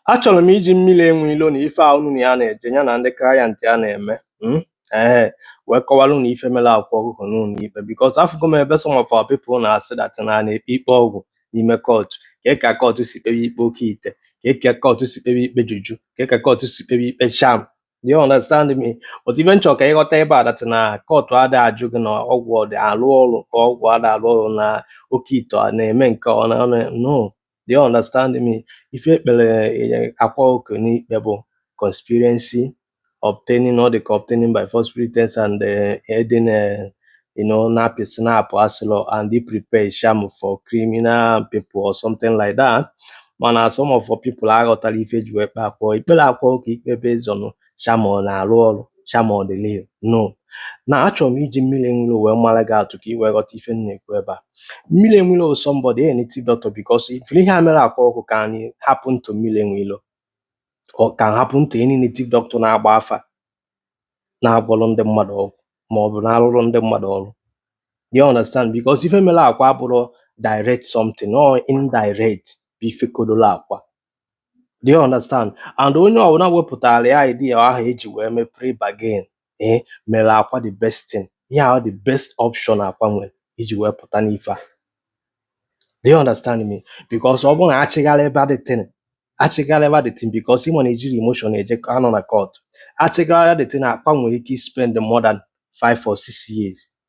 Achọrọ m iji mmiri enwe ilo na ife a unu na ya na-eje ya na ndị client ya na-eme mm, ee wee kọwara unu ife mere Akwa Ọkụkọ n'ụlọ ikpe because afụgo m ebe some of our people na-asị that na a na-ekpe ikpe ọgwụ n'ime kọtụ ka ka kọtụ si kpewe ikpe oke ite ka ka kọtụ si kpewe ikpe juju ka ka kọtụ si kpewe ikpe charm Do you understand me? But ife m chọ ka ị ghọta ebe a that na kọtụ ada ajụ gị na ọgwụ ọ dị alụ ọrụ ka ọgwụ ada alụ ọrụ na oke ite ọ na-eme nke ọ na ọ na- no do you understand me ife ekpere eh, akwa oke n'ikpe bụ conspiracy obtaining all the obtaining by false pretense and uh, aiding uh, you know napi snap asilo and he prepare sham for criminal people or something like that mana some of our people aghọtala ife ji wee kpe akwa ikpere akwa oke ikpe based on charm ọ na-arụ ọrụ charm ọ dị real no na achọrọ m iji mmiri enwe ilo wee mara gị atụ ka ị wee ghọta ife m na-ekwu ebe a mmiri enwe ilo somebody a native doctor because ife ihe a mere akwa ọkụkọ can happen to mmiri enwe ilo ọ can happen to any native doctor na-agba afa na-agwọrọ ndị mmadụ ọgwụ ma ọ bụ na-arụrụ ndị mmadụ ọrụ you understand because ife mere akwa abụrọ direct something or indirect bụ ife kodoro akwa Do you understand? And onye ọbụla wepụtara ya idea ahụ eji wee mee plea bargain ee mere akwa the best thing yeah the best option akwa nwere iji wee pụta n'ife a do you understand me because ọ bụrụ na achịgharị ebe the thing achịgharị ebe the thing because ịma na ejiri emotion eje anọ na court achịgharị the thing akwa nwere ike spend more than five or six years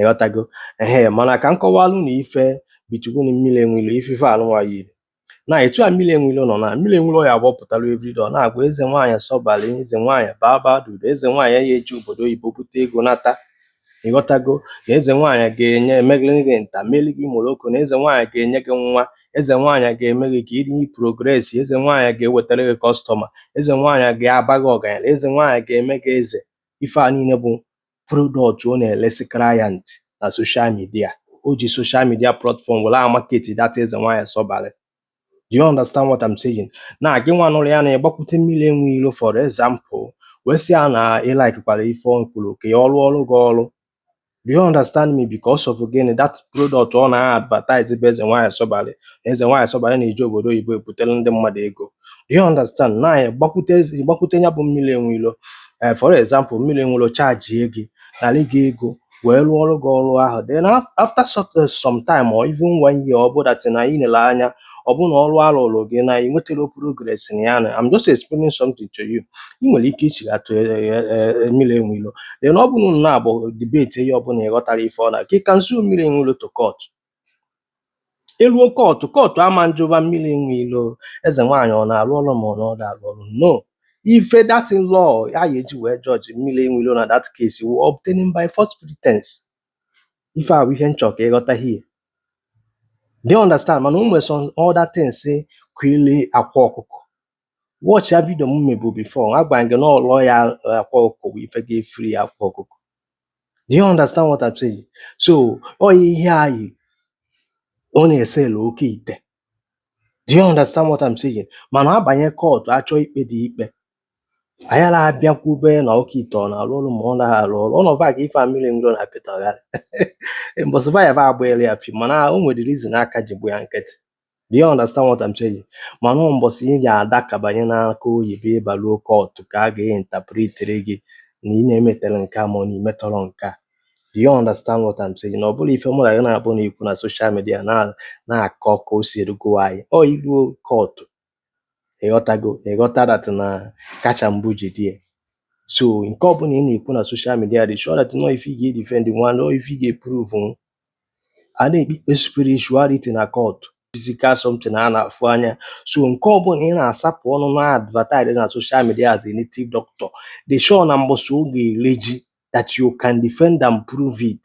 ịghọtago ehe mana ka m kọwalụ na ife bichukwu na mmiri enwe ilo ife ife anụnwa yiri na etu a mmiri enwe ilo nọ na mmiri enwe ilo ya agbapụtara everyday ọ na-agwa eze nwaanyị sọbalị eze nwaanyị baba dudu eze nwaanyị ya eji obodo oyibo bute ego nata ịghọtago na eze nwaanyị ga-enye emeghịrị gị nta meli gị moroko na eze nwaanyị ga-enye gị nwa eze nwaanyị ga-eme gị ka ị dị progress eze nwaanyị ga-ewetara gị customer eze nwaanyị ga-aba gị ọgaranya eze nwaanyị ga-eme gị eze ife a niile bụ product ọ na-elesi client na social media o ji social media platform were market that eze nwaanyị sọbalị do you understand what I'm saying na gị nwa nụrụ ya na ị gbakwute mmiri enwe ilo for example wee sị ya na ị likekwara ife ọ kwuru ka ọ rụọrọ gị ọrụ Do you understand me? Because of again that product ọ na-advertise bụ eze nwaanyị sọbalị eze nwaanyị sọbalị na-eji obodo oyibo ebutere ndị mmadụ ego you understand na ị gbakwute gbakwute ya bụ mmiri enwe ilo ee for example mmiri enwe ilo chajie gị nara gị ego wee rụọrọ gị ọrụ ahụ then af- after so- eh, some time or even one year ọ bụ that na ị nele anya ọ bụ na ọrụ arụrụ gị na ị nwetarọ progress na ya na I'm just explaining something to you ị nwere ike ichighatụ mmiri enwe ilo then ọ bụrụ na abụ debate ihe ọbụla ị ghọtara ife ọ na gị can sue mmiri enwe ilo to court eluo kọtụ kọtụ ama njụba mmiri enwe ilo eze nwaanyị ọ na-arụ ọrụ ma ọ na ọ da arụ ọrụ no ife that law ga-eji wee judge mmiri enwe ilo na that case wụ obtaining by false pretense ife a bụ ihe m chọ ka ị ghọta here do you understand mana o nwere some other things kwili akwa ọkụkọ watchịa video m mebu before agwa gị na ọ lawyer akwa ọkụkọ bụ ife ga-efree akwa ọkụkọ do you understand what I'm saying so ọ ya ihe anyị ọ na-eselu oke ite do you understand what I'm saying mana abanye court achọ ikpe dị ikpe anyị ala abịakwube na oke ite ọ na-alụ ọrụ ma ọ naghị alụ ọrụ ọnụ va ka ife a mmiri enwilo na pịtagharị mbọsị va ya va agbaela ya fi mana o nwere reason a ka ji bụ ya nkịtị Do you understand what I'm saying? Mana ọ mbọsị ị ga-adakabanye n'aka oyibo ị baruo court ka a ga-interpretere gị na ị na-emetela nke a ma ọ na i metọrọ nke a. Do you understand what I'm saying? Na ọ bụrụ ife mụ na gị na-abụ na ikwu na social media na- na-akọ ka o si erugo anyị. Ọ i ruo court ịghọtago ịghọta that na kacha mbụ ji dị so nke ọbụla ị na-ekwu na social media dị sure that na ọ ife ị ga-edefendnwu na ọ ife ị ga-eprove a na-ekpe spirituality na court physical something a na-afụ anya so nke ọbụla ị na-asapụ ọnụ na-advertise na social media as a native doctor dị sure na mbọsị ọ ga-ele ji that you can defend and prove it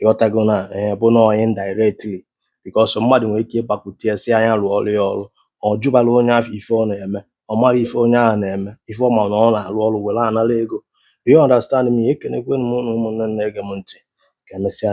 ịghọtago na ee bụ na onye indirectly because mmadụ nwere ike ịgbakwute ya sị ya nya rụọrọ ya ọrụ ọ jụbarọ onye ahụ ife ọ na-eme ọ marọ ife onye ahụ na-eme ife ọ ma na ọ na-arụ ọrụ were nara ego do you understand me ekenekwe m unu ụmụnne m na-ege m ntị ka emesịa